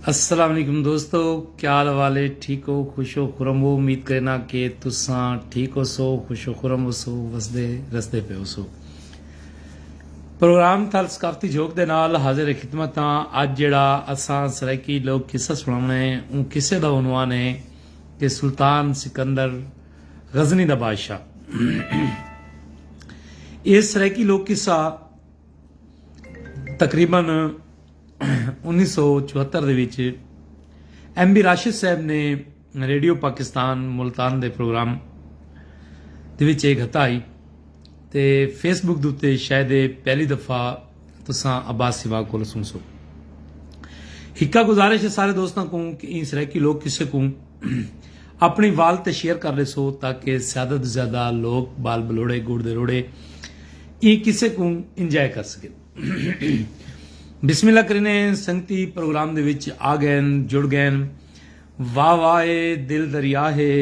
السلام علیکم دوستو کیا حال والے ٹھیک ہو خوش ہو خرم ہو امید کرنا کہ تساں ٹھیک ہو سو خوش ہو خرم ہو سو وسدے رسدے پہ ہو سو پروگرام تھل ثقافتی جھوک دے نال حاضر خدمت ہاں اج جڑا اساں سرائیکی لوگ قصہ سناونا ہے اون قصے دا عنوان ہے کہ سلطان سکندر غزنی دا بادشاہ اے سرائیکی لوگ قصہ تقریبا انیس سو چوہتر دے وچ ایم بی راشد صاحب نے ریڈیو پاکستان ملتان دے پروگرام دے وچ ایک ہتا آئی تے فیس بک دوتے شاید پہلی دفعہ تساں عباس سوا کو لسوں سو ہکا گزارش ہے سارے دوستاں کو کہ این سرائیکی لوگ کسے کو اپݨی وال تے شیئر کر ݙیسو تاکہ زیادہ توں زیادہ لوک بال بلوڑے گڑ دے روڑے ایں قصے کوں انجوائے کر سکن بسم اللہ کرینے سنگتی پروگرام دے وچ آ گئن جڑ گئن واہ واہ اے دل دریا ہے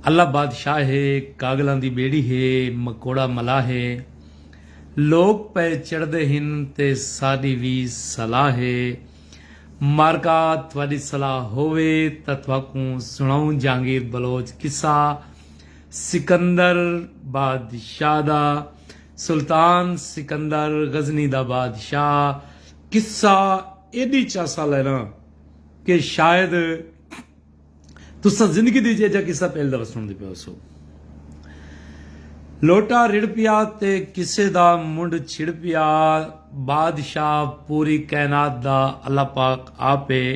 اللہ بادشاہ ہے کاگلاں دی بیڑی ہے مکوڑا ملا ہے لوک پے چڑھ دے ہن تے ساڈی وی صلاح ہے مارکا تہاݙی صلاح ہووے تاں تہاکوں سݨاؤں جہانگیر بلوچ قصہ سکندر بادشاہ دا سلطان سکندر غزنی دا بادشاہ قصہ ایݙی چاسا لینا کہ شاید تساں زندگی دی جیجھا قصہ پہل دفعہ سنڑدے پئے ہوسو۔ لوٹا رڑھ پیا تے قصے دا منڈھ چھڑ پیا۔ بادشاہ پوری کائنات دا اللہ پاک آپ ہے۔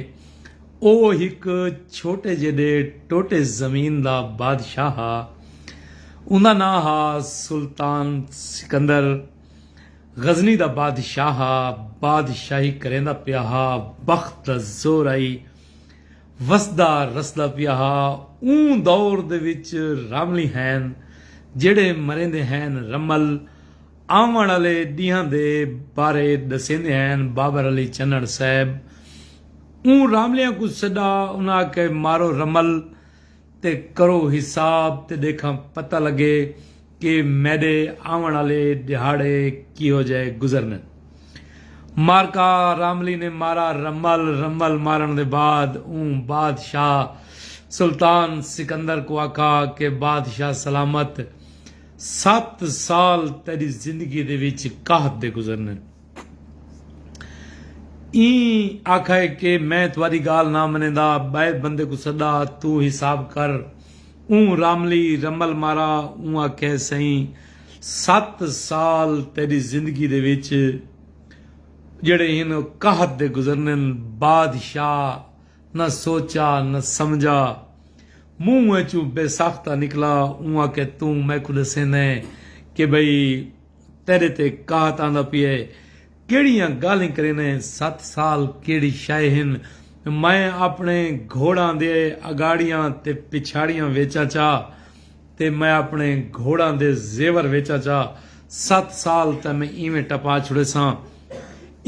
او ہک چھوٹے جیڈے ٹوٹے زمین دا بادشاہ ہا۔ اوندا ناں ہا سلطان سکندر۔ غزنی دا بادشاہ ہا۔ بادشاہی کریندا پیا ہا۔ بخت دا زور ہئی۔ وسدا رسدا پیا ہا اوں دور دے وچ راملی ہین جیڑھے مریندے ہین رمل آوݨ آلے ݙینہاں دے بارے ݙسیندے ہین بابر علی چنڑ صاحب اوں راملیاں کوں سݙا انہاں آکھے مارو رمل تے کرو حساب تے ݙیکھاں پتہ لڳے کہ میݙے آوݨ آلے ݙیہاڑے کیہو جئے گزرنن۔ مارکا راملی نے مارا رمل رمل مارݨ دے بعد اوں بادشاہ سلطان سکندر کوں آکھا کہ بادشاہ سلامت ست سال تیݙی زندگی دے وچ قحط دے گزرنن۔ ایں آکھائے کہ میں تہاڈی گالھ نہ منیندا بئے بندے کوں سڈا توں حساب کر اوں راملی رمل مارا اوں آکھے سئیں ست سال تیڈی زندگی دے وچ جیڑھے ہن او قحط دے گزرنن بادشاہ نہ سوچا نہ سمجھا منہ اچوں بے ساختہ نکلا اوں آکھے توں میکوں ڈسیندیں کہ بھئی تیڈے تے قحط آندا پیا ہے کیڑیاں گالھیں کریندے ہیں ست سال کیڑی شئے ہن میں اپنے گھوڑاں دے اگاڑیاں تے پچھاڑیاں ویچاں چا تے میں اپنے گھوڑاں دے زیور ویچاں چا ست سال تاں میں ایویں ٹپا چھڑیساں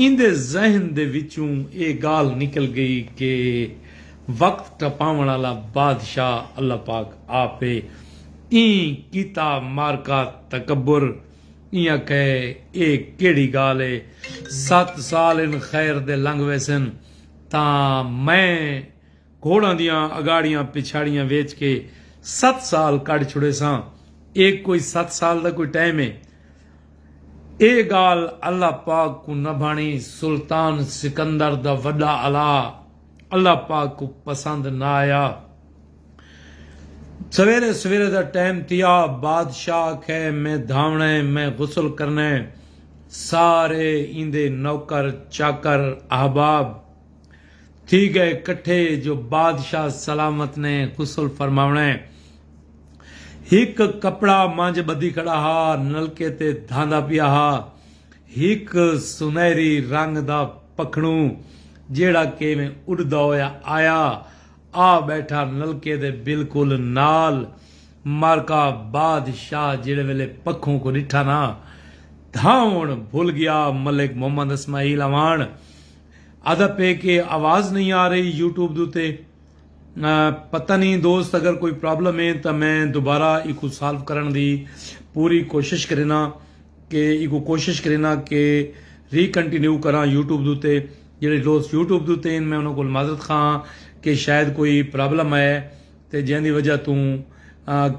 ایندے ذہن دے وچوں ایہ ڳالھ نکل ڳئی کہ وقت ٹپاوݨ آلا بادشاہ اللہ پاک آپ اے۔ ایں کیتا معرکہ تکبر ایاں کہے ایہ کیڑھی ڳالھ اے۔ ست سال ان خیر دے لنگھ ویسن تاں میں گھوڑاں دیاں اڳاڑیاں پچھاڑیاں ویچ کے ست سال کڈھ چھڑیساں۔ ایہ کوئی ست سال دا کوئی ٹائم اے۔ اے گالھ اللہ پاک کوں نہ بھانی سلطان سکندر دا وڈا الا اللہ پاک کوں پسند نہ آیا سویرے سویرے دا ٹائم تھیا بادشاہ آکھے میں دھاونا ہے میں غسل کرنا ہے سارے ایندے نوکر چاکر احباب تھی گئے کٹھے جو بادشاہ سلامت نے غسل فرماونا ہے ہک کپڑا منجھ ٻدھی کھڑا ہا، نلکے تے دھاندا پیا ہا۔ ہک سنہری رنگ دا پکھڑوں جیڑھا کیویں اݙدا ہویا آیا، آ ٻیٹھا نلکے دے بالکل نال۔ مرکا بادشاہ جیڑھے ویلے پکھوں کوں ݙٹھا نا، دھاوݨ بھل ڳیا۔ ملک محمد اسماعیل اعواݨ آہدا پئے کہ آواز نئیں آ رہی یوٹیوب دے اتے۔ پتہ نی دوست اگر کوئی پرابلم ہے تاں میں دوبارہ ایکو سالو کرن دی پوری کوشش کرینا کہ ایکو کوشش کرینا کہ ری کنٹینیو کراں یوٹیوب دوتے جیڑے دوست یوٹیوب دوتے ہیں میں انہوں کو معذرت خواہ ہاں کہ شاید کوئی پرابلم ہے تے جیہاں دی وجہ توں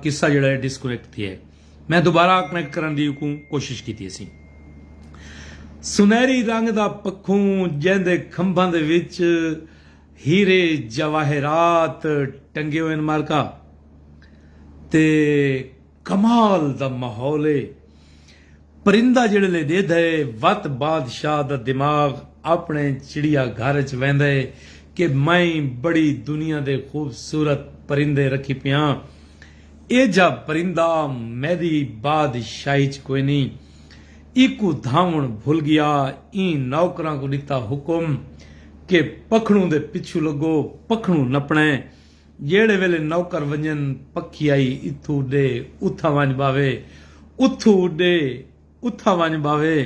قصہ جیڑا ہے ڈسکنیکٹ تھی ہے میں دوبارہ کنیکٹ کرن دی ایکو کوشش کی تھی سی سنہری رنگ دا پکھوں جیندے کھمبھاں دے وچ ہیرے جواہرات ٹنگے ہوئن مارکہ تے کمال دا ماحول اے پرندہ جیڑھلے ڈیدھے وت بادشاہ دا دماغ اپنے چڑیا گھر اچ ویندے کہ میں بڑی دنیا دے خوبصورت پرندے رکھی پیاں ایجھا پرندہ میدی بادشاہی اچ کوئنی ایکوں دھاوݨ بھل ڳیا۔ ایں نوکراں کوں ݙتا حکم کہ پکھڑوں دے پچھوں لڳو، پکھڑوں نپݨے۔ جیڑھے ویلے نوکر ونڄن، پکھی آئی اتھوں اݙے اتھاں ونڄ ٻاہوے، اتھوں اݙے اتھاں ونڄ ٻاہوے۔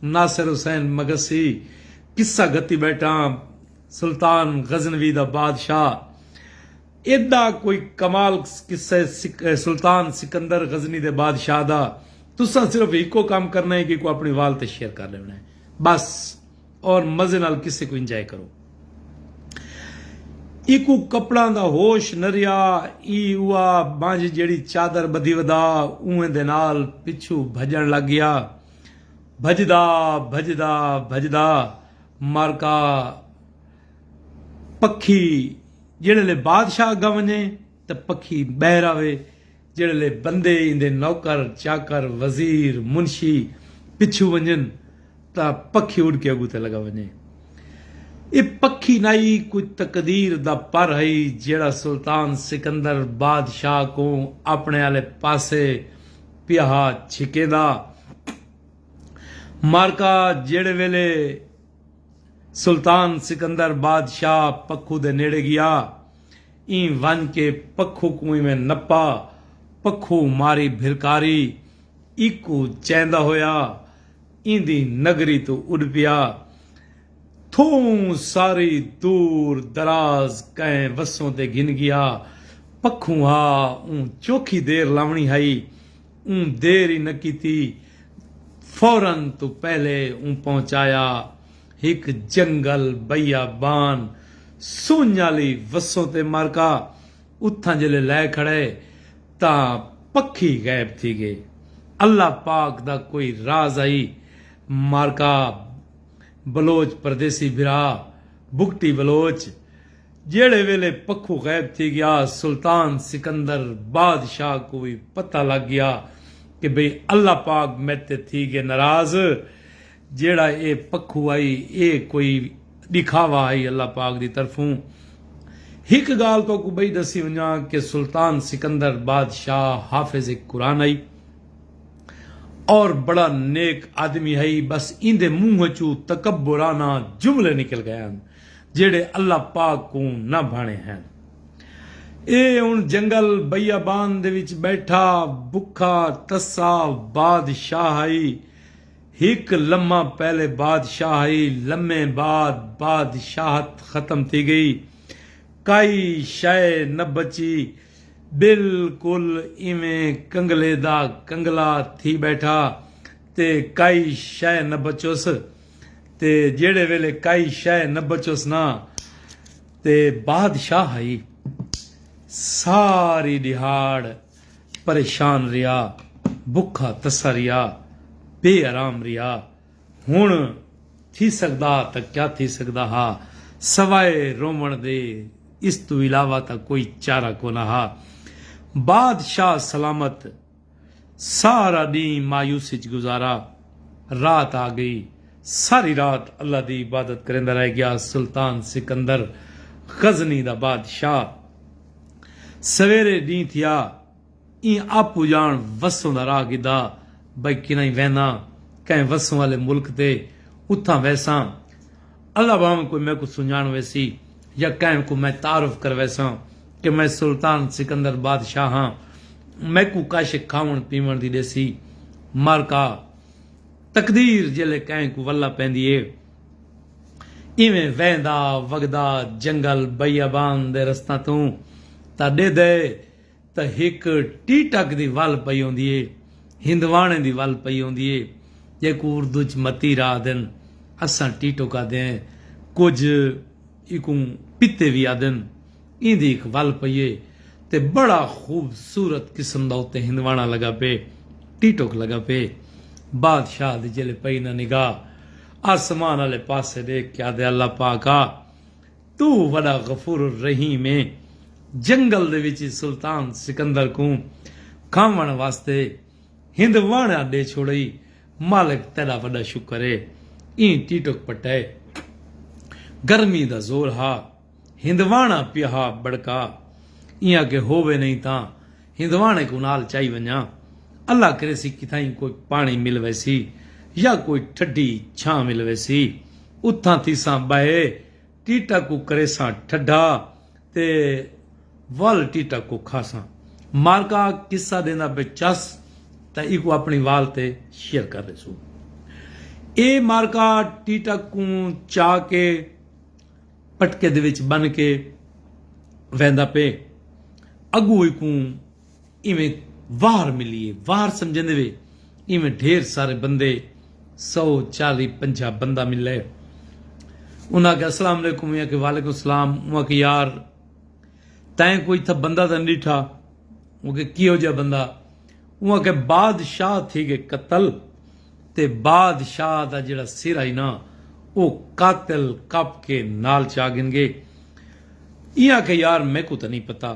ناصر حسین مگسی قصہ گھتی ٻیٹھاں، سلطان غزنوی دا بادشاہ۔ ایڈا کوئی کمال قصہ سلطان سکندر غزنی دے بادشاہ دا تساں صرف ہکو کم کرنا ہے کہ کو اپنی وال تے شیئر کر لیونا ہے بس اور مزے نال قصے کو انجوائے کرو ایکو کپڑاں دا ہوش نہ رہیا ای اوا بانجھ جیڑی چادر بدھی ودا اوہیں دے نال پچھو بھجن لگ گیا بھجدا بھجدا بھجدا مارکا پکھی جیڑھے لے بادشاہ اگاں ونجے تے پکھی ٻہر آوے جیڑھے لے بندے ایندے نوکر چاکر وزیر منشی پچھوں ونجن تاں پکھی اڈ کے اگوں تے لگا ونجے اے پکھی نائی کوئی تقدیر دا پر ہئی جیڑھا سلطان سکندر بادشاہ کوں اپنے آلے پاسے پیہا چھکیندا مارکا جیڑھے ویلے سلطان سکندر بادشاہ پکھو دے نیڑے گیا۔ ایں ونج کے پکھو کوں ایویں نپا۔ پکھو ماری بھرکاری ایکوں چیندا ہویا ایندی نگری توں اڈ پیا۔ تھوں ساری دور دراز کئیں وسوں تے گھن گیا۔ پکھوں آ اوں چوکھی دیر لاونڑی ہئی۔ اوں دیر ای نہ کیتی فورا توں پہلے اوں پہنچایا ہک جنگل بیابان سنج آلی وسوں تے مارکا اتھاں جلے لائے کھڑے تاں پکھی غائب تھی گئے اللہ پاک دا کوئی راز ہئی مارکا بلوچ پردیسی بھرا بگٹی بلوچ جیہڑے ویلے پکھو غائب تھی گیا سلطان سکندر بادشاہ کوں وی پتہ لگ گیا کہ بھئی اللہ پاک میتے تھی گئے ناراض جیہڑا اے پکھو ہئی اے کوئی ݙکھاوا ہئی اللہ پاک دی طرفوں ہک ڳالھ تہاکوں ٻئی ݙسی ونڄاں کہ سلطان سکندر بادشاہ حافظ قرآن ہئی اور بڑا نیک آدمی ہئی بس ایندے منہ ءچوں تکبرانہ جملے نکل ڳئے ہن۔ جیڑھے اللہ پاک کوں نہ بھانے ہن۔ اے ہن جنگل، بیابان، دے وچ ٻیٹھا، بکھا، تسا، بادشاہ ہئی۔ ہک لمحہ پہلے بادشاہ ہئی، لمحے بعد بادشاہت ختم تھی ڳئی۔ کائی شئے نہ بچی۔ بالکل ایویں کنگلے دا کنگلا تھی ٻیٹھا تے کائی شئے نہ بچس۔ تے جیڑھے ویلے کائی شئے نہ بچس نا تے بادشاہ ہئی ساری ڈیہاڑ پریشان ریا بکھا تسا ریا بے آرام ریا ہن تھی سگدا تاں کیا تھی سگدا ہا سوائے روون دے اس توں علاوہ تاں کوئی چارہ کونا ہا بادشاہ سلامت سارا ڈینہہ مایوسی اچ گزارا۔ رات آ گئی۔ ساری رات اللہ دی عبادت کریندا رہ گیا۔ سلطان سکندر غزنی دا بادشاہ سویرے ڈینہہ تھیا ایں آپو جان وسوں دا راہ گھدا بھئی کنائیں وینداں کہیں وسوں آلے ملک تے اتھاں ویساں۔ اللہ بھانویں کوئی میکوں سنڄاݨ ویسی یا کہیں کوں میں تعارف کرویساں کہ میں سلطان سکندر بادشاہ ہاں میکوں کش کھاوݨ پیوݨ دی ݙیسی مارکا تقدیر جیلھے کہیں کوں ولہ پیندی اے ایویں ویندا وڳدا جنگل بیابان دے رستاں توں تاں ݙیہدے تاں ہک ٹیٹک دی ول پئی ہوندی ہے، ہندواݨے دی ول پئی ہوندی ہے جیکوں اردو اچ متیر آہدن، اساں ٹیٹک آہدے ہیں، کجھ ایکوں پتے وی آہدن، ایندی ہک ول پئی ہے تے بڑا خوبصورت قسم دا اتے ہندواݨا لڳا پئے، ٹیٹک لڳا پئے۔ بادشاہ دی جیلھے پئی نہ نگاہ، آسمان آلے پاسے ݙیکھ کے آہدے اللہ پاک آ! توں وݙا غفور الرحیم ایں۔ جنگل دے وچ سلطان سکندر کوں کھاوݨ واسطے ہند واݨا ݙے چھوڑئی۔ مالک تیݙا وݙا شکر اے ایں ٹیٹک پٹئے۔ گرمی دا زور ہا ہند واݨا پیا ہا ٻڑکا ایاں کہ ہووے نئیں تاں ہند واݨے کوں نال چائی ونڄاں۔ اللہ کریسی کتھائیں کوئی پاݨی مل ویسی یا کوئی ٹھڈی چھاں مل ویسی اتھاں تھیساں ٻہے۔ ٹیٹا کوں کریساں ٹھڈا تے ول ٹیٹا کوں کھاساں مارکا قصہ ڈیندا پے چس تاں ایکوں اپنی وال تے شیئر کر ڈیسوں اے مارکا ٹیٹا کوں چا کے پٹکے دے وچ بن کے ویندا پے اگوں ایکوں ایویں واہر ملی اے، واہر سمجھیندے وے ایویں ڈھیر سارے بندے سو چالی پنجاہ بندہ ملے انہاں آکھیا السلام علیکم میں آکھیا وعلیکم السلام میں آکھیا یار تیں کوئی تھا بندہ تاں ڈیٹھا میں آکھیا کیہو جہا بندہ میں آکھیا بادشاہ تھی گئے قتل تے بادشاہ دا جیڑا سر ہئی نا او قاتل کپ کے نال چا گھن گئے ایہاں آکھیا یار میکوں تاں نہیں پتہ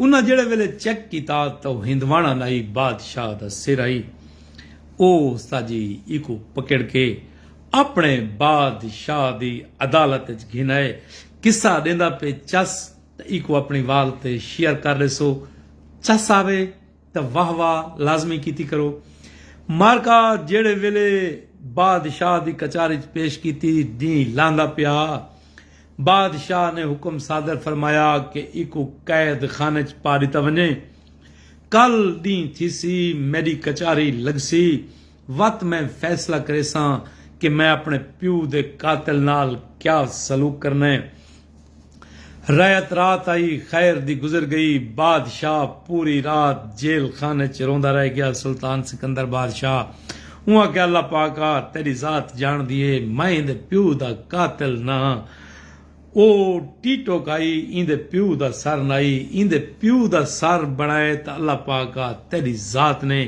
انہاں جیڑھے ویلے چیک کیتا تاں او ہندواݨا نائی بادشاہ دا سر ہئی۔ او ساجی ایکوں پکڑ کے اپݨے بادشاہ دی عدالت اچ گھن آئے۔ قصہ ݙیندا پئے چس تاں ایکوں اپݨی وال تے شیئر کر ݙیسو۔ چس آوے۔ تاں واہ واہ لازمی کیتی کرو۔ مارکا جیڑھے ویلے بادشاہ دی کچاری ءچ پیش کیتی، ڈینہہ لاندا پیا۔ بادشاہ نے حکم صادر فرمایا کہ ایکوں قید خانے ءچ پا ڈتا ونجے۔ کل ڈینہہ تھیسی میڈی کچاری لگسی۔ وت میں فیصلہ کریساں کہ میں اپنے پیو دے قاتل نال کیا سلوک کرنا ہے۔ رئیت رات آئی خیر دی گزر گئی۔ بادشاہ پوری رات جیل خانے اچ روندا رہ گیا۔ سلطان سکندر بادشاہ اوں آکھیا اللہ پاکا تیڈی ذات جانڑدی ہے میں ایندے پیو دا قاتل نہ ہاں۔ او ٹیٹوک آئی ایندے پیو دا سر نائی ایندے پیو دا سر بنڑائے تاں اللہ پاکا تیڈی ذات نے۔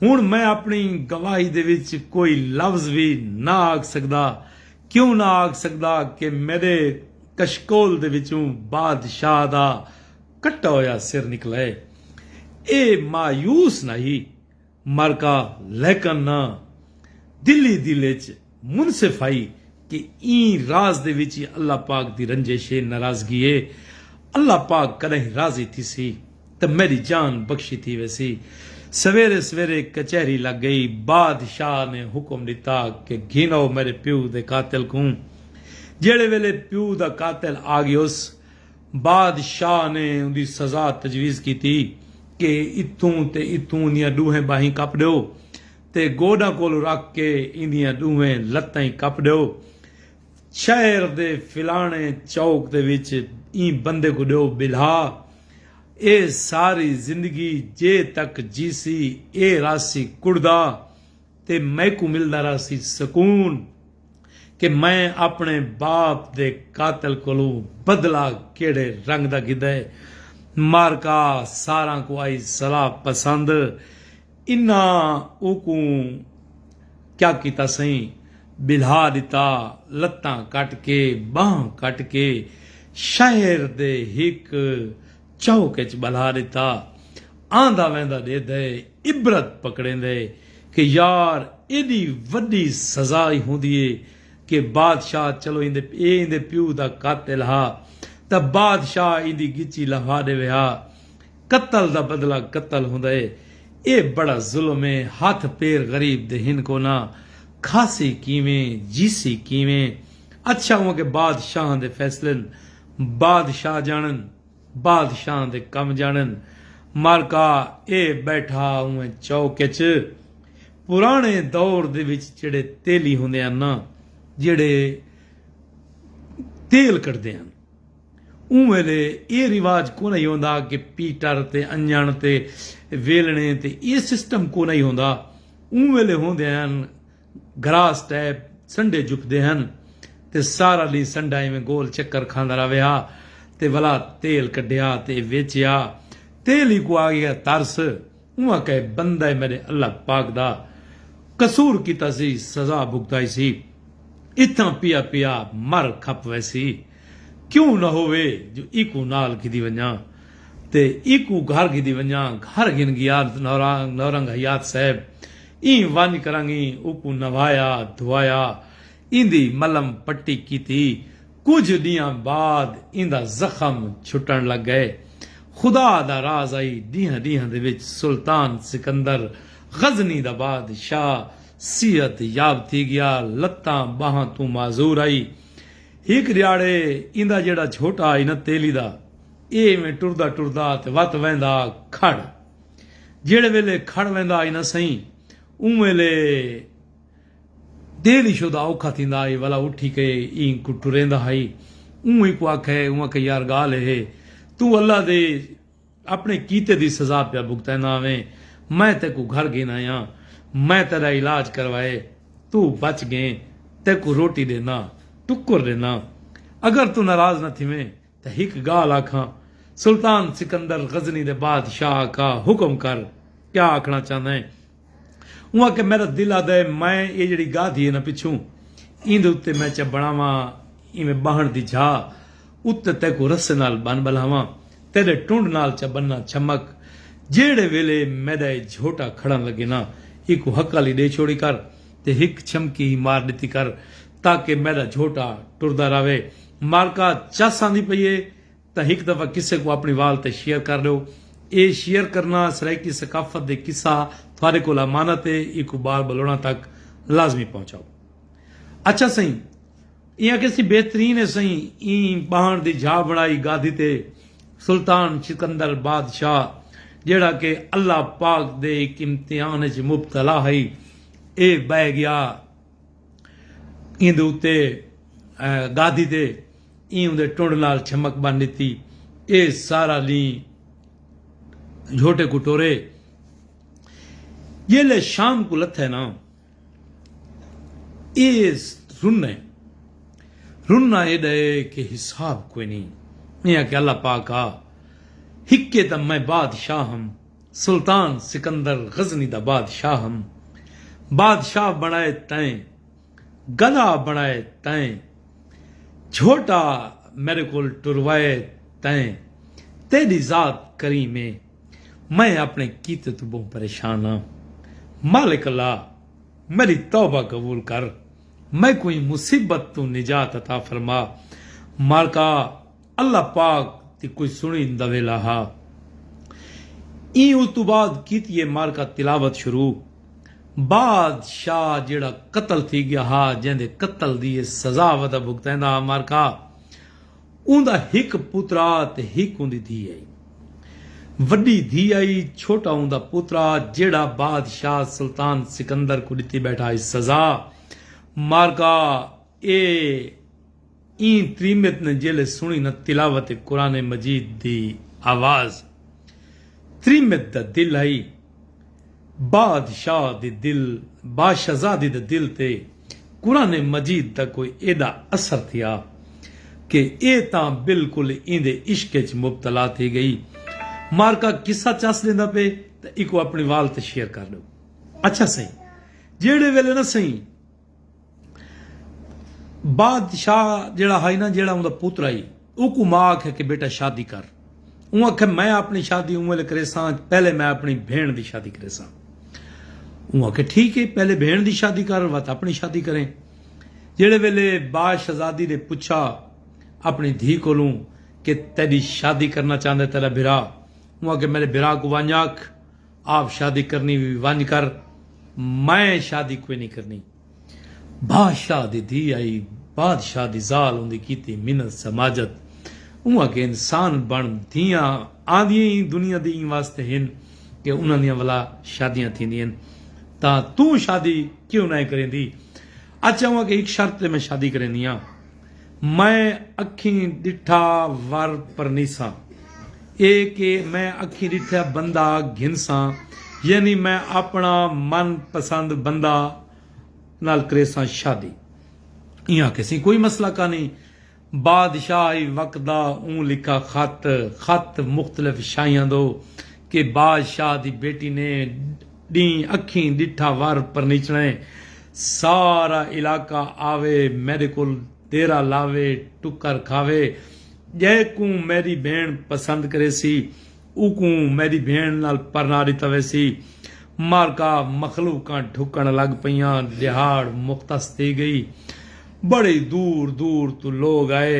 ہݨ میں اپݨی گواہی دے وچ کوئی لفظ وی نہ آکھ سڳدا، کیوں نہ آکھ سڳدا کہ میݙے کشکول دے وچوں بادشاہ دا کٹا ہویا سر نکلئے۔ اے مایوس نہ ہی مرکا لیکن نہ دلی دل اچ منصف ہئی کہ ایں راز دے وچ ای اللہ پاک دی رنجش اے، ناراضگی اے۔ اللہ پاک کݙاہیں راضی تھیسی تاں میݙی جان بخشی تھی ویسی۔ سویرے سویرے کچہری لڳ ڳئی۔ بادشاہ نے حکم ݙتا کہ گھنو میݙے پیو دے قاتل کوں۔ جیڑھے ویلے پیو دا قاتل آ ڳیوس، بادشاہ نے اوندی سزا تجویز کیتی کہ اتھوں تے اتھوں اوندیاں ݙوہیں ٻاہیں کپ ݙیو۔ تے گوݙاں کولھ رکھ کے ایندیاں ݙوہیں لتیں کپ ݙیو۔ شہر دے فلاݨے چوک دے وچ ایں بندے کوں ݙیو ٻلھا۔ ایہ ساری زندگی جے تک جیسی ایہ رہسی کڑدا تے میکوں ملدا رہسی سکون کہ میں اپݨے باپ دے قاتل کولھوں بدلہ کیڑھے رنگ دا گھدا ہے۔ مارکا ساراں کوں آئی صلاح پسند انہاں اوکوں کیا کیتا سئیں، ٻلھا ݙتا، لتاں کٹ کے، ٻانہہ کٹ کے شہر دے ہک چوک اچ ٻلھا ݙتا۔ آندا ویندا ݙیدھے، عبرت پکڑیندے کہ یار ایݙی وݙی سزا ای ہوندی اے کہ بادشاہ چلو ایندے اے ایندے پیو دا قاتل ہا تاں بادشاہ ایندی ڳچی لہوا ݙیوے ہا۔ قتل دا بدلہ قتل ہوندا ہے اے بڑا ظلم ہے ہتھ پیر غریب دے ہن کونا کھاسی کیویں جیسی کیویں اچھا اوں اگے بادشاہاں دے فیصلن بادشاہ جانن بادشاہاں دے کم جانن مالکا اے بیٹھا اوں چوک اچ پرانے دور دے وچ جیڑھے تیلی ہوندے ہن نا جیڑھے تیل کڈھدے ہن۔ اوں ویلے ایہ رواج کونہی ہوندا کہ پیٹر تے انجݨ تے ویلݨے تے ایہ سسٹم کونہی ہوندا۔ اوں ویلے ہوندے ہن گراس ٹیپ سنڈے جھکدے ہن تے سارا ݙینہہ سنڈا ایویں گول چکر کھاندا رہوے ہا تے ولا تیل کڈھیا تے ویچیا تیل ہی کو آگیا ترس اوہاں کئے بندہ ء میڈے اللہ پاک دا قصور کیتا سی سزا بھگتائی سی اتھاں پیا پیا مر کھپ ویسی کیوں نہ ہووے جو ایکوں نال گھدی ونجاں تے ایکوں گھر گھدی ونجاں گھر گھن گیا نورنگ حیات صاحب ایں ونج کرنگیں اوکوں نہوایا دھوایا ایندی ملم پٹی کیتی کجھ ڈینہاں بعد ایندا زخم چھٹن لگ گئے۔ خدا دا راز آئی ڈینہاں ڈینہاں دے وچ سلطان سکندر غزنی دا بادشاہ صحت یاب تھی گیا لتاں باہاں توں معذور آئی۔ ہک ڈیہاڑے ایندا جیڑھا جھوٹا آئی نہ تیلی دا ایہ ایویں ٹردا ٹردا تے وت ویندا کھڑ جیڑھے ویلے کھڑ ویندا آئی نہ سئیں اوں ویلے۔ دل ایشو دا اوکھا تھیندا ہئی ولا اٹھی کے ایں کوں ٹریندا ہئی اوں ایں کوں آکھے اوں آکھے یار گالھ ہے توں اللہ دے اپنے کیتے دی سزا پیا بھگتیندا ویں میں تیکوں گھر گھن آیاں میں تیڈا علاج کروائے توں بچ گیں تیکوں روٹی ڈیندا ٹکر ڈیندا اگر توں ناراض نہ تھیویں تاں ہک گالھ آکھاں سلطان سکندر غزنی دے بادشاہ آقا حکم کر کیا آکھنا چاہندیں اوں آکھیا میڈا دل آہدا ہے میں ایہ جیڑھی گاہ تھی ہے نا پچھوں ایندے اتے میں چا بنڑاواں ایویں باہنڑ دی جھا اتے تیکوں رسے نال بن بلہاواں تیڈے ٹنڈ نال چا بننا چھمک جیڑھے ویلے میڈا ایہ جھوٹا کھڑن لگے نا ایکوں ہکالی ڈے چھوڑی کر تے ہک چھمکی ہی مار ڈتی کر تاکہ میڈا جھوٹا ٹردا راہوے مارکا چس آندی پئی ہے تاں ہک دفعہ قصے کوں اپنی وال تے شیئر کر ڈیو۔ اے شیئر کرنا سرائیکی ثقافت دے قصہ تھارے کول امانت اے ایکوں بار بلوڑاں تک لازمی پہنچاؤ۔ اچھا سئیں ایں آکھے سی بہترین اے سئیں ایں ٻاہݨ دی جھا بݨائی گادھی تے سلطان سکندر بادشاہ جیڑھا کہ اللہ پاک دے ہک امتحان اچ مبتلا ہئی اے ٻہہ گیا۔ ایندے اتے گادھی تے ایں اوندے ٹنڈ نال چھمک بن ڈتی اے سارا لیں جھوٹے کو ٹورے جیلے شام کو لتھے نا اے رنے رنا اے ڈے کہ حساب کوئی نہیں اے کہ اللہ پاک آ ہکے تم میں بادشاہ ہم سلطان سکندر غزنی دا بادشاہ ہم۔ بادشاہ بݨائے تئیں گدا بݨائے تئیں جھوٹا میݙے کول ٹروائے تئیں تیݙی ذات کریم اے میں اپݨے کیتے توں ٻہوں پریشان ہاں مالک اللہ میݙی توبہ قبول کر میکوں ایں مصیبت توں نجات عطا فرما مالکا اللہ پاک دی کوئی سنڑی دا ویلا ہا۔ ایں اتو بعد کیتی اے معرکہ تلاوت شروع۔ باد شاہ جیہڑا قتل تھی گیا ہا جیندے قتل دی اے سزا ودا بھگتیندا ہا معرکہ اوندا ہک پترا تے ہک اوندی دھی ہئی۔ وڈی دھی ہئی چھوٹا اوندا پترا جیہڑا باد شاہ سلطان سکندر کوں ڈتی بیٹھا ہئی سزا معرکہ اے۔ ایں تریمت نے جیلے سنڑی نہ تلاوت قرآن مجید دی آواز تریمت دا دل آئی باد شاہ دی دل باشہزادی دے دل تے قرآن مجید دا کوئی ایڈا اثر تھیا کہ اے تاں بالکل ایندے عشق اچ مبتلا تھی گئی مارکا قصہ چس ڈیندا پے تاں ایکوں اپنڑی وال تے شیئر کر ڈیو اچھا سئیں جیڑھے ویلے نہ سئیں بادشاہ جیڑا ہائی نا جیڑا اوندا پتر ہائی اوکوں ماں آکھے کہ بیٹا شادی کر اوں آکھے میں اپنی شادی اوں ویلے کریساں پہلے میں اپنی بھین دی شادی کریساں اوں آکھے ٹھیک ہے پہلے بھین دی شادی کر وت اپنی شادی کریں جیڑے ویلے با شہزادی نے پچھا اپنی دھی کولوں کہ تیڈی شادی کرنا چاہندے تیرا بھرا اوں آکھے میرے بھرا کو ونج آکھ آپ شادی کرنی وی ونج کر میں شادی کوئی نی کرنی بادشاہ دی دھی آئی بادشاہ دی زال اوندی کیتی منت سماجت اوں آکھیا انسان بن دھیاں آندیاں ای دنیا دی ایں واسطے ہن کہ انہاں دیاں ولا شادیاں تھیندیاں ہن تاں توں شادی کیوں نائیں کریندی اچھا اوں آکھیا ہک شرط تے میں شادی کریندیاں میں اکھیں ڈٹھا ور پرنیساں۔ اے کہ میں اکھیں ڈٹھا بندہ گھنساں یعنی میں اپنا من پسند بندہ نال کریساں شادی۔ ایں آکھیسیں کوئی مسئلہ کانی۔ بادشاہ ای وقت دا اوں لکھا خط، خط مختلف شاہیاں دو کہ بادشاہ دی بیٹی نے، ݙینہہ اکھیں ݙٹھا ور پرنیچڑیں سارا علاقہ آوے میݙے کول دیرہ لاوے ٹکر کھاوے جیکوں میݙی بھیݨ پسند کریسی اوکوں میݙی بھیݨ نال پرنا ݙتا ویسی معرکہ مخلوقاں ڈھکݨ لڳ پئیاں ݙیہاڑ مختص تھی ڳئی بڑی دور دور توں لوگ آئے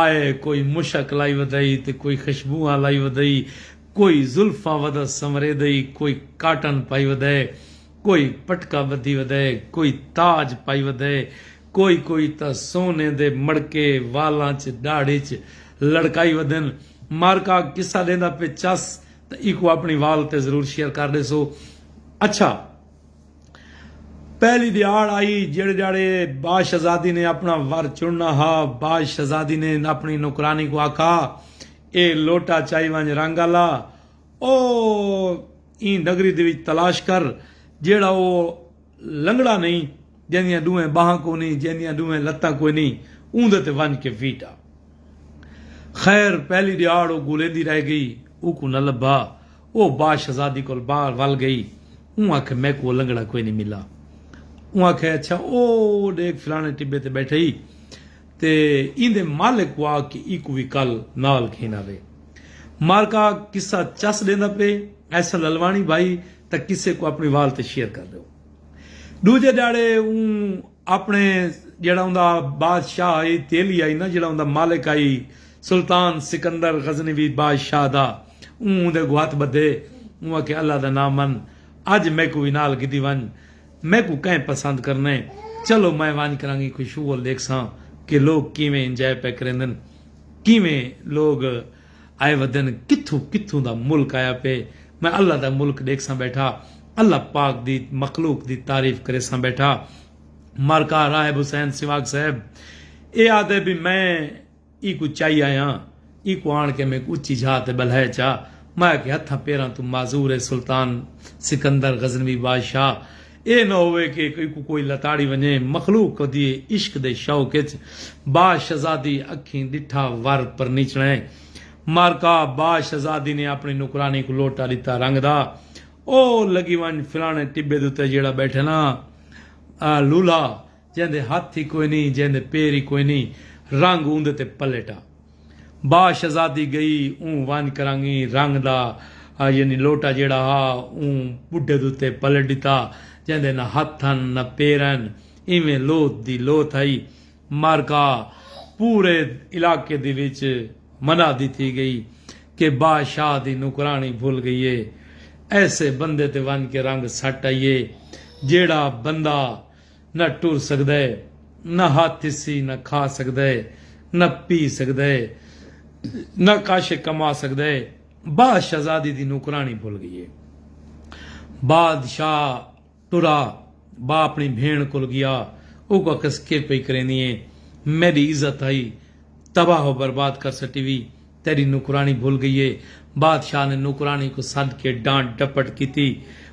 آئے کوئی مشک لائی ودئی تے کوئی خشبوہاں لائی ودئی کوئی زلفاں ودا سنوریدئی کوئی کاٹن پائی ودئے کوئی پٹکا بدھی ودئے کوئی تاج پائی ودئے کوئی کوئی تاں سونے دے مڑکے والاں ءچ ڈاڑھی ءچ لڑکائی ودن مارکا قصہ ڈیندا پے چس تاں ایکوں اپنڑی وال تے ضرور شیئر کر ڈیسو اچھا پہلی دیہاڑ آئی جڑ جاڑے با شہزادی نے اپنا ور چننا ہا با شہزادی نے اپنی نوکرانی کو آکھا اے لوٹا چائی ونج رنگ آلا او این نگری دے وچ تلاش کر جیڑا او لنگڑا نہیں جیندیاں ڈوہیں باہاں کو نہیں جیندیاں ڈوہیں لتاں کوئی نہیں اون دے تے ونج کے ویٹا خیر پہلی دیہاڑ او گولیندی رہ گئی او کو نہ لبھا او باء شہزادی کول باہر ول گئی۔ اوں آکھے میکوں او لنگڑا کوئی نی ملا۔ اوں آکھے اچھا او ڈیکھ فلانے ٹبے تے بیٹھا ای تے ایندے مالک کوں آکھ کہ ایکوں وی کل نال گھن آوے۔ مارکا قصہ چس ڈیندا پئے ایسا للواݨی بھائی تاں قصے کوں اپݨی وال تے شیئر کر ڈیو۔ ڈوجھے ڈیہاڑے اوں اپݨے جیہڑا اوندا بادشاہ آئی تیلی آئی نا جیہڑا اوندا مالک آئی۔ سلطان سکندر غزنوی بادشاہ دا اوں اوندے اگوں ہتھ بدھے اوں آکھے اللہ دا ناں من اج میکوں وی نال گھدی ونج میکوں کئیں پسند کرنے چلو میں ونج کرانگی کوئی شغل ڈیکھساں کہ لوک کیویں انجائے پئے کریندن کیویں لوگ آئے ودن کتھوں کتھوں دا ملک آیا پئے میں اللہ دا ملک ڈیکھساں بیٹھا اللہ پاک دی مخلوق دی تعریف کریساں بیٹھا مارکا راہب حسین سواگ صاحب اے آدھے بی میں ای کوں چائی آیاں۔ ای کوں آن کے میک اچی جھا تے بلہے چا۔ میں آکھے ہتھاں پیراں توں معذور اے سلطان سکندر غزنوی بادشاہ۔ اے نہ ہووے کے ای کوں کوئی لتاڑی ونجے۔ مخلوق کدی اے عشق دے شوق اچ با شہزادی اکھیں ڈٹھا ور پرنیچڑیں۔ مارکا با شہزادی نے اپنی نوکرانی کوں لوٹا ڈتا رنگ دا۔ او لگی ونج فلانے ٹبے دے اتے جیڑھا بیٹھے نا لولھا۔ جیندے ہتھ ای کوئی نئیں جیندے پیر ای کوئی نئیں رنگ اوندے تے پلیٹا با شہزادی گئی اوں ونج کرانگی رنگ دا یعنی لوٹا جیڑھا ہا اوں بڈھے دوتے پلٹ ڈتا جیندے نہ ہتھ ہن نہ پیر ہن ایویں لوتھ دی لوتھ ہئی معرکہ پورے علاقے دی وچ منادی تھی گئی کہ با شاہ دی نوکرانی بھل گئی ہے ایسے بندے تے ونج کے رنگ سٹ ائیے جیڑھا بندہ نہ ٹر سڳدا اے، نہ ہتھ تھسی، نہ کھا سڳدا اے، نہ پی سڳدا اے، نہ کاشے کما سڳدا اے، با شہزادی دی نوکرانی بھل ڳئی اے۔ بادشاہ ٹرا، با اپݨی بھیݨ کول ڳیا، اوں کوں آکھس کے پئی کریندی ایں، میݙی عزت ہئی، تباہ و برباد کر سٹی وی، تیݙی نوکراݨی بھل ڳئی ہے۔ بادشاہ نے نوکراݨی کوں سݙ کے ݙانٹ ݙپٹ کیتی۔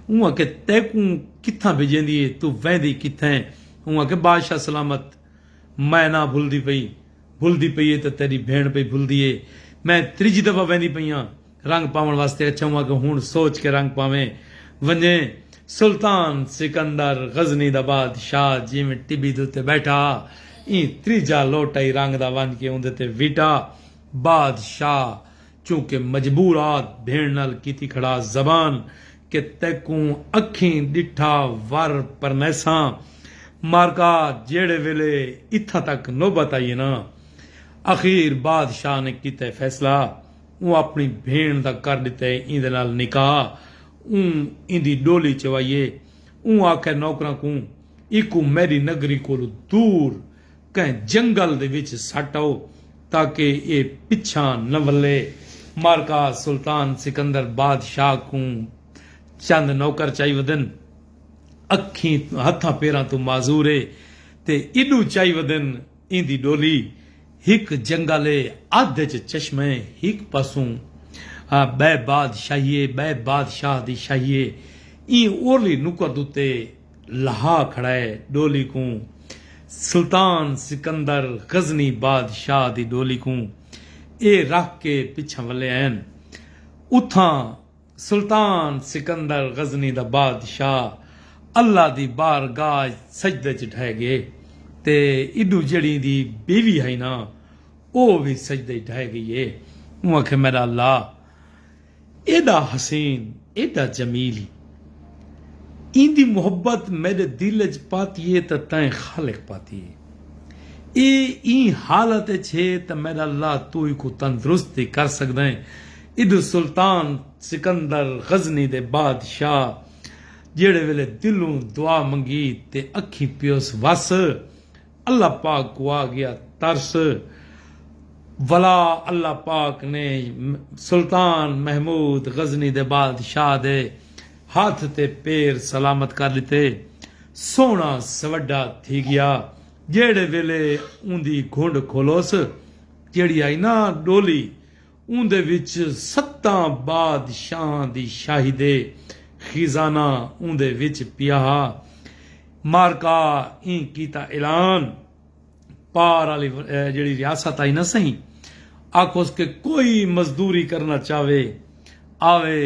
اوں آکھیا تیکوں کتھاں بھڄیندی ہے؟ توں ویندی کتھاں ہے؟ اوں آکھیا بادشاہ سلامت میں نہ بھلدی پئی۔ بھلدی پئی ہے تاں تیݙی بھیݨ پئی بھلدی ہے۔ میں تریجھی دفعہ ویندی پئی ہاں رنگ پاوݨ واسطے۔ اچھا اوں آکھیا ہݨ سوچ کے رنگ پاویں ونڄیں۔ سلطان سکندر غزنی دا بادشاہ جیویں ٹٻی دے اتے ٻیٹھا ہا ایں تریجھا لوٹا ای رنگ دا ونڄ کے اوندے تے وٹا۔ باد شاہ چونکہ مجبورات بھیݨ نال کیتی کھڑا زبان کہ تیکوں اکھیں ݙٹھا ور پرنیساں مارکا جیڑھے ویلے اتھاں تک نوبت آئی ہے نا اخیر باد شاہ نے کیتا ہے فیصلہ اوں اپݨی بھیݨ دا کر ݙتا ہے ایندے نال نکاح اوں ایندی ݙولی چوائی ہے اوں آکھیا نوکراں کوں ایکوں میݙی نگری کولوں دور کہیں جنگل دے وچ سٹ آؤ تاکہ ایہ پچھاں نہ ولے۔ مارکا سلطان سکندر بادشاہ کوں چند نوکر چائی ودن۔ اکھیں ہتھاں پیراں توں معذور اے تے ایڈو چائی ودن ایندی ڈولی۔ ہک جنگل اے ادھ اچ چشمہ اے ہک پاسوں بئے بادشاہی اے بئے بادشاہ دی شاہی اے ایں اورلی نکت اتے۔ لہا کھڑائے ڈولی کوں سلطان سکندر غزنی بادشاہ دی ڈولی کوں اے رکھ کے پچھاں ولے آئن اتھاں سلطان سکندر غزنی دا بادشاہ اللہ دی بارگاہ اچ سجدے اچ ڈھے گئے تے ایڈوں جیڑھیں دی بیوی ہئی نا او وی سجدے اچ ڈھے گئی اے اوں آکھے میڈا اللہ ایݙا حسین ایݙا جمیل ای ایندی محبت میݙے دل اچ پاتی اے تاں تئیں خالق پاتی اے اے ایں حالت اچ ہے تاں میݙا اللہ توں ایکوں تندرست وی کر سڳدائیں ایݙوں سلطان سکندر غزنی دے بادشاہ جیڑھے ویلے دلوں دعا منگی تے اکھیں پیوس وس اللہ پاک کوں آ گیا ترس ولا اللہ پاک نے سلطان محمود غزنی دے بادشاہ دے ہتھ تے پیر سلامت کر ݙتے۔ سوہݨا سوڈھا تھی گیا۔ جیڑھے ویلے اوندی گھنڈ کھولوس جیڑھی آئی نا ڈولی اوندے وچ ستاں بادشاہاں دی شاہی دے خزانہ اوندے وچ پیا ہا۔ مارکا ایں کیتا اعلان، پار آلی جیڑھی ریاست آئی نہ سئیں آکھوس کہ کوئی مزدوری کرنا چاوے آوے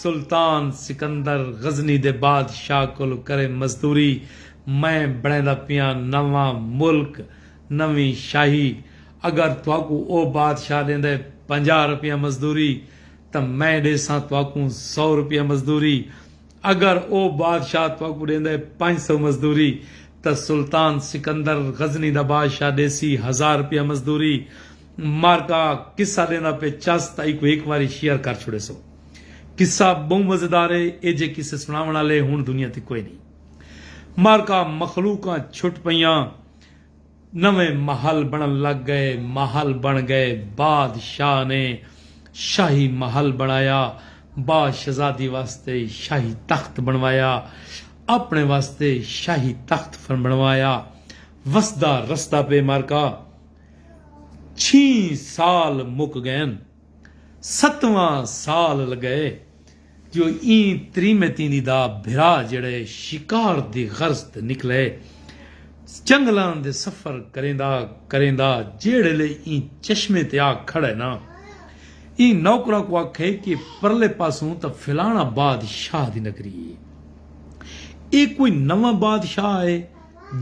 سلطان سکندر غزنی دے بادشاہ کولو کرے مزدوری میں بنڑیندا پیاں نواں ملک نویں شاہی اگر تہاکوں او بادشاہ ݙیندا ہے پنجاہ روپیہ مزدوری تاں میں ݙیساں تہاکوں سو روپیہ مزدوری۔ اگر او بادشاہ تہاکوں ݙیندا ہے پنج سو مزدوری تاں سلطان سکندر غزنی دا بادشاہ ݙیسی ہزار روپیہ مزدوری۔ معرکہ قصہ ݙیندا پئے چس تاں ایکوں ہک واری شیئر کر چھوڑیسو۔ قصہ ٻہوں مزیدار ہے ایجھے قصے سݨاوݨ آلے ہݨ دنیا تے کوئنی۔ معرکہ مخلوقاں چھٹ پئیاں۔ نویں محل بنڑن لگ گئے، محل بن گئے، باد شاہ نے شاہی محل بنڑایا، با شہزادی واسطے شاہی تخت بنڑوایا، اپنڑے واسطے شاہی تخت فرنبنڑوایا، وسدا رسدا پے معرکہ چھیں سال مک گئن، ستواں سال لگئے، جو ایں تریمتیں دی دا بھرا جیڑھے شکار دی غرض تے نکلے جنگلاں دے سفر کریندا کریندا جیڑھلے ایں چشمے تے آ کھڑے نا ایں نوکراں کوں آکھے کہ پرلے پاسوں تاں فلانا باد شاہ دی نگری ہے اے کوئی نواں باد شاہ ہے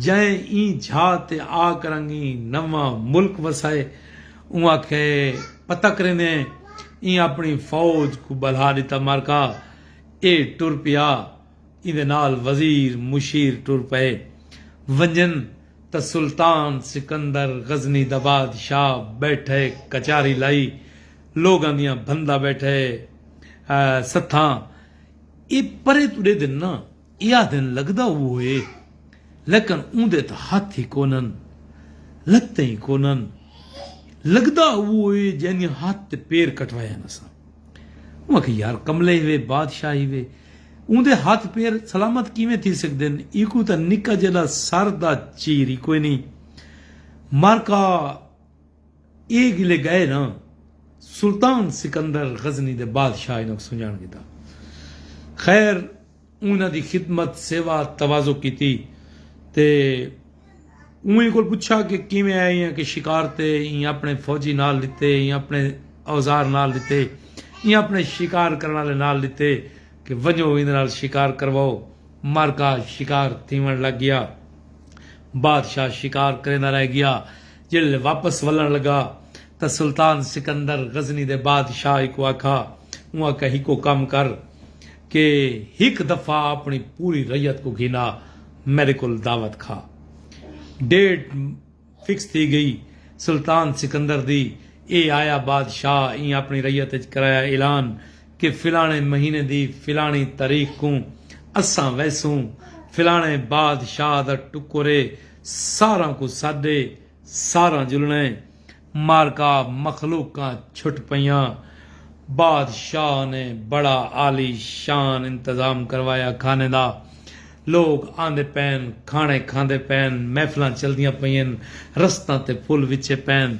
جئیں ایں جھا تے آ کرنگیں نواں ملک وسائے اوں آکھیا اے پتہ کریندیں ایں اپنی فوج کوں ٻلھا ݙتا معرکہ اے ٹر پیا ایندے نال وزیر مشیر ٹر پئے ونڄن تاں سلطان سکندر غزنی دا بادشاہ ٻیٹھے کچاری لائی لوگاں دیاں بھندا ٻیٹھے ستھاں اے پرے توں ݙے دن ناں ایہا دن لگدا او ہوئے لیکن اوندے تاں ہتھ ای کونن لتیں ای کونن لگدا او ہوئے جیندیاں ہتھ تے پیر کٹوائن اساں اوں آکھیا یار کملے ہیوے بادشاہ ہیوے اوندے ہتھ پیر سلامت کیویں تھی سگدن ایکوں تاں نکا جیڈا سر دا چیر ای کوئنی مارکا اے گلے گئے نا سلطان سکندر غزنی دے بادشاہ انہاں کوں سنجاݨ گھدا خیر انہاں دی خدمت، سیوا، تواضع کیتی تے اوہیں کول پچھا کہ کیویں آئے ہیں کہ شکار تے ایں اپنے فوجی نال ڈتے ایں اپنے اوزار نال ڈتے ایں اپنے شکار کرن والے نال ڈتے کہ ونجو ایندے نال شکار کرواؤ معرکہ شکار تھیون لگ گیا بادشاہ شکار کریندا رہ گیا جیلھے واپس ولن لگا تاں سلطان سکندر غزنی دے بادشاہ اکوں آکھا اوں آکھا ہکو کم کر کہ ہک دفعہ اپݨی پوری رعیت کوں گھن آ میݙے کولھ دعوت کھا۔ ڈیٹ فکس تھی ڳئی سلطان سکندر دی اے آیا بادشاہ ایں اپݨی رعیت اچ کرایا اعلان کہ فلاݨے مہینے دی فلاݨی تاریخ کوں اساں ویسوں فلاݨے بادشاہ دا ٹکر اے ساراں کوں سݙ اے ساراں جلݨا اے معرکہ مخلوقاں چھٹ پئیاں۔ بادشاہ نے بڑا عالی شان انتظام کروایا کھانے دا۔ لوک آندے پئین، کھانے کھاندے پئین، محفلاں چلدیاں پئین، رستاں تے پھل وچھے پئین،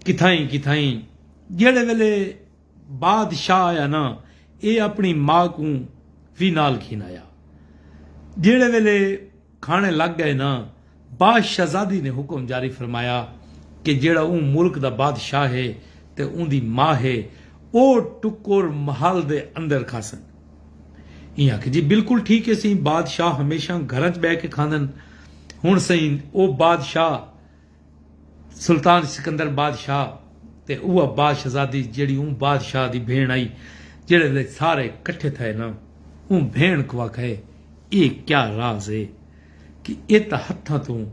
کتھائیں کتھائیں۔ جیڑھے ویلے بادشاہ آیا نا ایہ اپݨی ماء کوں وی نال گھن آیا۔ جیڑھے ویلے۔ کھاݨے لڳ ڳئے نا باش شہزادی نے حکم جاری فرمایا کہ جیڑھا اوں ملک دا بادشاہ ہے تے اوندی ما ہے او ٹکر محل دے اندر کھاسن ایں آکھیا جی بالکل ٹھیک ہے سئیں بادشاہ ہمیشاں گھراں چ ٻہہ کے کھاندن ہن سئیں او بادشاہ سلطان سکندر بادشاہ تے اوہ با شہزادی جیڑھی اوں بادشاہ دی بھیݨ آئی جیڑھے لے سارے کٹھے تھئے نا اوں بھیݨ کوں آکھئے ایہ کیا راز ہے کہ ایہ تاں ہتھاں توں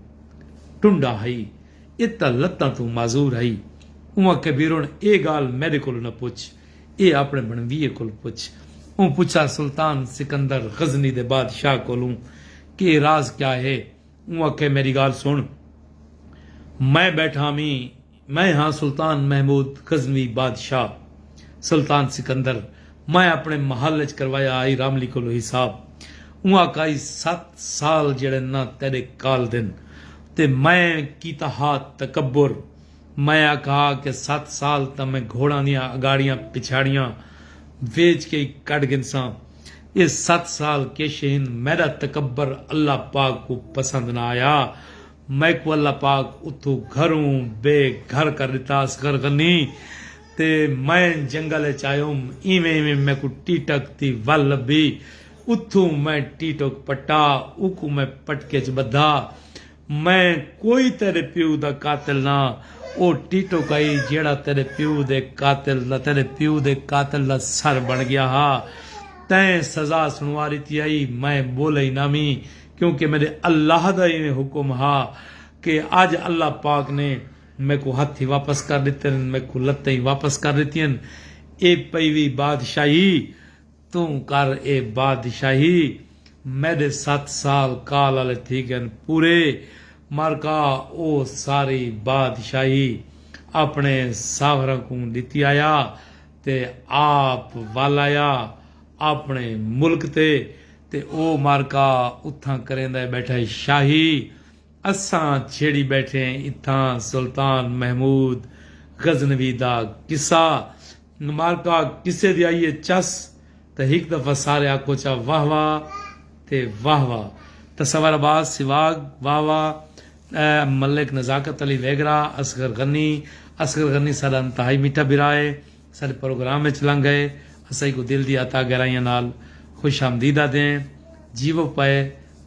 ٹنڈا ہئی ایہ تاں لتاں توں معذور ہئی اواں کبیرون ایہ گالھ میڈے کولوں نہ پچھ ایہ اپݨے بنویے کولوں پچھ اوں پچھا سلطان سکندر غزنی دے بادشاہ کولوں کہ ایہ راز کیا ہے اوں آکھے میڈی گالھ سن میں بیٹھا ویں میں ہاں سلطان محمود غزنوی بادشاہ سلطان سکندر میں اپنے محل اچ کروایا ہائی راملی کولو حساب اوں آکھائی ست سال جیڑھے نہ تیڈے کال دن تے میں کیتا ہا تکبر میں آکھا ہا کہ ست سال تاں میں گھوڑاں دیاں اگاڑیاں پچھاڑیاں ویچ کے ای کڈھ گھنساں۔ اے ست سال کیش ہن۔ میڈا تکبر اللہ پاک کوں پسند نہ آیا۔ میکوں اللہ پاک اتھوں گھروں بے گھر کر ڈتا اصغر غنی تے میں جنگل اچ آیوم۔ ایویں ایویں میکوں ٹیٹک دی ول لبھی۔ اتھوں میں ٹیٹک پٹا۔ اوکوں میں پٹکے اچ بدھا۔ میں کوئی تیݙے پیو دا قاتل نہ ہاں، او ٹیٹو کئی جیڑھا تیݙے پیو دے قاتل دا تیݙے پیو دے قاتل دا سر بݨ ڳیا ہا۔ تئیں سزا سݨوا ݙتی ہئی، میں ٻولئی نہ ویں، کیونکہ میݙے اللہ دا ایویں حکم ہا کہ اڄ اللہ پاک نے میکوں ہتھیں واپس کر ݙتے ہن، میکوں لتیں واپس کر ݙتیاں ہن، اے پئی وی بادشاہی۔ توں کر اے بادشاہی، میݙے ست سال کال آلے تھی ڳن پورے، مرکا او ساری بادشاہی اپݨے ساہوراں کوں ݙتی آیا تے آپ ول آیا اپݨے ملک تے تے او مرکا اتھاں کریندا ٻیٹھا شاہی، اساں چھیڑی بیٹھے ہیں اتھاں سلطان محمود غزنوی دا قصہ معرکہ قصے دی آئیے چس تاں ہک دفعہ سارے آکھو چا واہ واہ تے واہ واہ تصور عباس سواگ واہ واہ ملک نزاکت علی ویگرا اصغر غنی اصغر غنی ساڈا انتہائی میٹھا بھرا ہے ساڈے پروگرام اچ لنگ گئے اسائی کوں دل دی عطا گرائیاں نال خوش آمدید آدھے ہیں جیوو پئے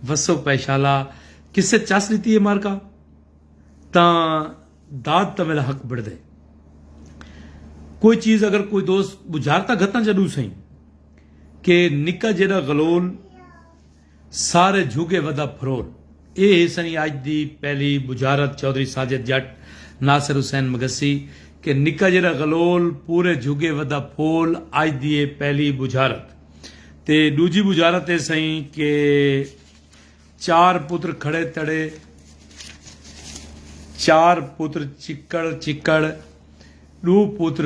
وسو پئے شالا کسے چس ڈتی ہے مارکا تاں داد تاں میرا حق بڑدے کوئی چیز اگر کوئی دوست بجارتا گھتاں جا ڈو سائیں کہ نکا جیڑا غلول سارے جھگے ودھا پھرول اے ہے سنی اج دی پہلی بجھارت چوہدری ساجد جٹ ناصر حسین مگسی کہ نکا جیرا غلول پورے جھگے ودھا پھول اج دی اے پہلی بجھارت تے ڈوجھی بجھارت اے سنی کہ چار پتر کھڑے تڑے چار پتر چکڑ چکڑ ڈو پتر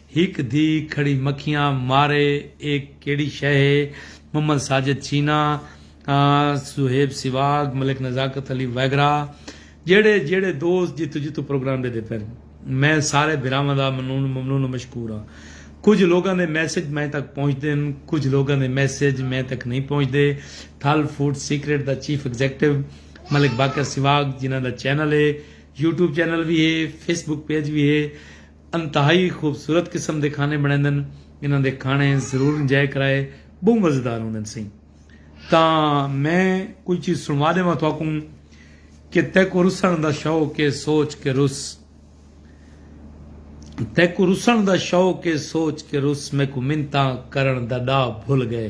ہک دھی کھڑی مکھیاں مارے اے کیڑی شے ہے، محمد ساجد چینا، صہیب سواگ، ملک نزاکت علی وغیرہ جیڑھے جیڑھے دوست جتھوں جتھوں پروگرام ݙیندے پئن میں سارے بھراواں دا ممنون و مشکور ہاں۔ کجھ لوکاں دے میسج میں تک پہنچدن کجھ لوکاں دے میسج میں تک نئیں پہنچدے تھل فوڈ سیکرٹ دا چیف ایگزیکٹو ملک باقر سواگ جنہاں دا چینل ہے یوٹیوب چینل وی ہے فیس بک پیج وی ہے انتہائی خوبصورت قسم دے کھانے بݨیندن۔ انہاں دے کھانے ضرور انجوائے کرائے ٻہوں مزیدار ہوندن سئیں۔ تاں میں کوئی چیز سݨوا ݙیواں تہاکوں کہ تیکوں رسݨ دا شوق اے سوچ کے رس تیکوں رسݨ دا شوق اے سوچ کے رس میکوں منتاں کرݨ دا ݙا بھل ڳئے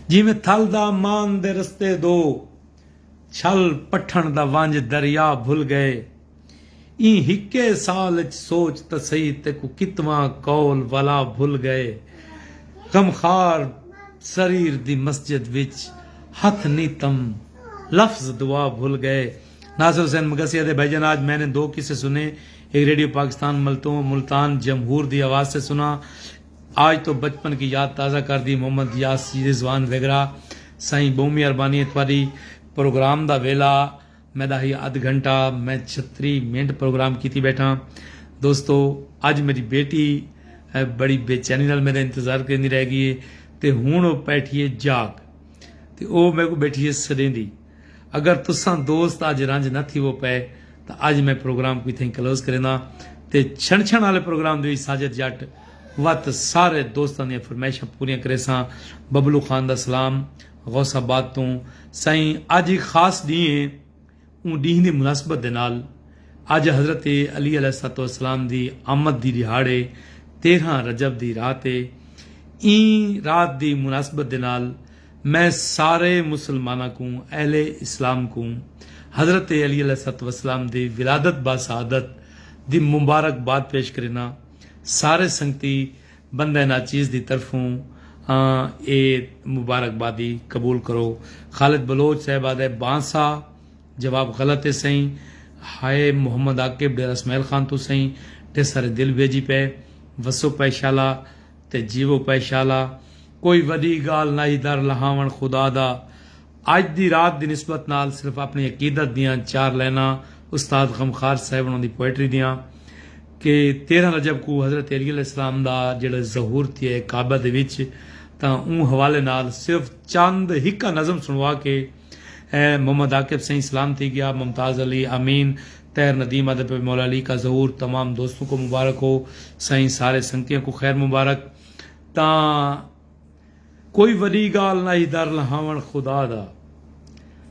جیویں تھل دا مان دے رستے دو۔ چھل پٹھݨ دا ونج دریا بھل گئے ایں ہکے سال اچ سوچ تاں سہی تیکوں کتواں قول ولا بھل گئے غمخوار سریر دی مسجد وچ ہتھ نیتم لفظ دعا بھل گئے ناصر حسین مگسی آہدے بھائی جان آج میں نے دو قصے سنے ایک ریڈیو پاکستان ملتان جمہور دی آواز سے سنا آج تو بچپن کی یاد تازہ کر دی محمد یاسی رضوان ویگرا سائیں بہوں میاربانی ہے تواڈی پروگرام دا ویلا میڈا ہی ادھ گھنٹہ میں چھتری منٹ پروگرام کیتی بیٹھا دوستو اج میڈی بیٹی بڑی بے چینی نال میڈا انتظار کریندی رہ گی ہے تے ہن او پیٹھی ہے جاگ تے او میکوں بیٹھی ہے سڈیندی اگر تساں دوست اج رنج نہ تھیوو پئے تاں اج میں پروگرام کوں اتھائیں کلوز کرینداں تے چھن چھن آلے پروگرام دی وچ ساجد جٹ وت سارے دوستاں دیاں فرمائشاں پوریاں کریساں ببلو خان دا سلام غوث آباد توں سائیں اج ہک خاص ڈینہہ ہے اوں ڈینہہ دی مناسبت دے نال اج حضرت علی علیہ الصلوۃ والسلام دی آمد دی ڈیہاڑ ہے تیرھاں رجب دی رات ہے ایں رات دی مناسبت دے نال میں سارے مسلماناں کوں، اہل اسلام کوں حضرت علی علیہ الصلوۃ والسلام دی ولادت باسعادت دی مبارک باد پیش کرینداں۔ سارے سنگتی بندہ ناچیز دی طرفوں آں اے مبارک بادی قبول کرو۔ خالد بلوچ صاحب آہدے بانسا جواب غلط اے سئیں۔ ہائے محمد عاقب ڈیرہ اسماعیل خان توں سئیں ڈھسر دل بھیجی پئے وسو پئے شالا۔ تے جیوو پئے شالا کوئی وڈی گالھ نائی در لہاون خدا دا اج دی رات دی نسبت نال صرف اپنی عقیدت دیاں چار لائناں استاد غمخار صاحب انہاں دی پوئٹری دیاں کہ تیرہ رجب کوں حضرت علی علیہ السلام دا جیڑھا ظہور تھیا ہے کعبہ دے وچ تاں اوں حوالے نال صرف چند ہکا نظم سنوا کے اے محمد عاقب سئیں سلام تھی گیا ممتاز علی امین طاہر ندیم ادب پہ مولا علی کا ظہور تمام دوستوں کو مبارک ہو سائیں سارے سنگتیاں کو خیر مبارک تاں کوئی وڈی گال نائی در لہاون خدا دا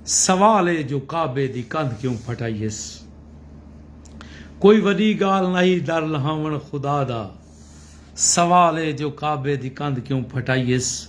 سوال اے جو کعبے دی کندھ کیوں پھٹائیس کوئی وڈی گال نائی در لہاون خدا دا سوال اے جو کعبے دی کندھ کیوں پھٹائیس۔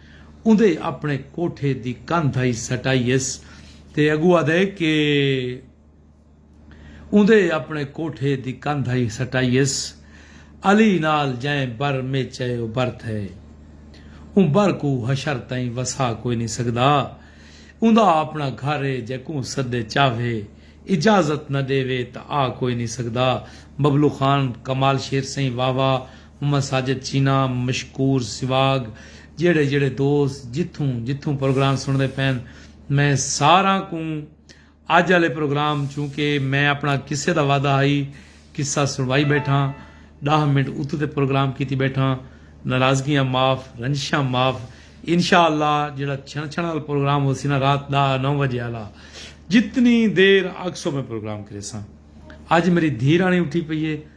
اوندے اپݨے کوٹھے دی کندھ آئی سٹائی ہیس تے اگو آدھے کہ اوندے اپݨے کوٹھے دی کندھ آئی سٹائی ہیس علی نال جئیں بر میچ اے او بر تھئے اوں بر کوں حشر تئیں وسا کوئی نی سگدا اوندا اپݨا گھر اے جیکوں سدے چاوھے اجازت نہ ڈیوے تاں آ کوئی نی سگدا ببلو خان کمال شیر سئیں واہ واہ محمد ساجد چینا، مشکور سواگ جیڑھے جیڑھے دوست جتھوں جتھوں پروگرام سنڑدے پین میں ساراں کوں اج آلے پروگرام چونکہ میں اپنڑاں قصے دا وعدہ ہئی قصہ سنڑوائی بیٹھاں ڈاہ منٹ اتو تے پروگرام کیتی بیٹھاں ناراضگیاں معاف رنجشاں معاف انشاء اللہ جیڑھا چھنڑ چھنڑ آلا پروگرام ہوسی نا رات ڈاہ نو وجے آلا جتنی دیر آکھسو میں پروگرام کریساں اج میری دھی رانی اٹھی پئی ہے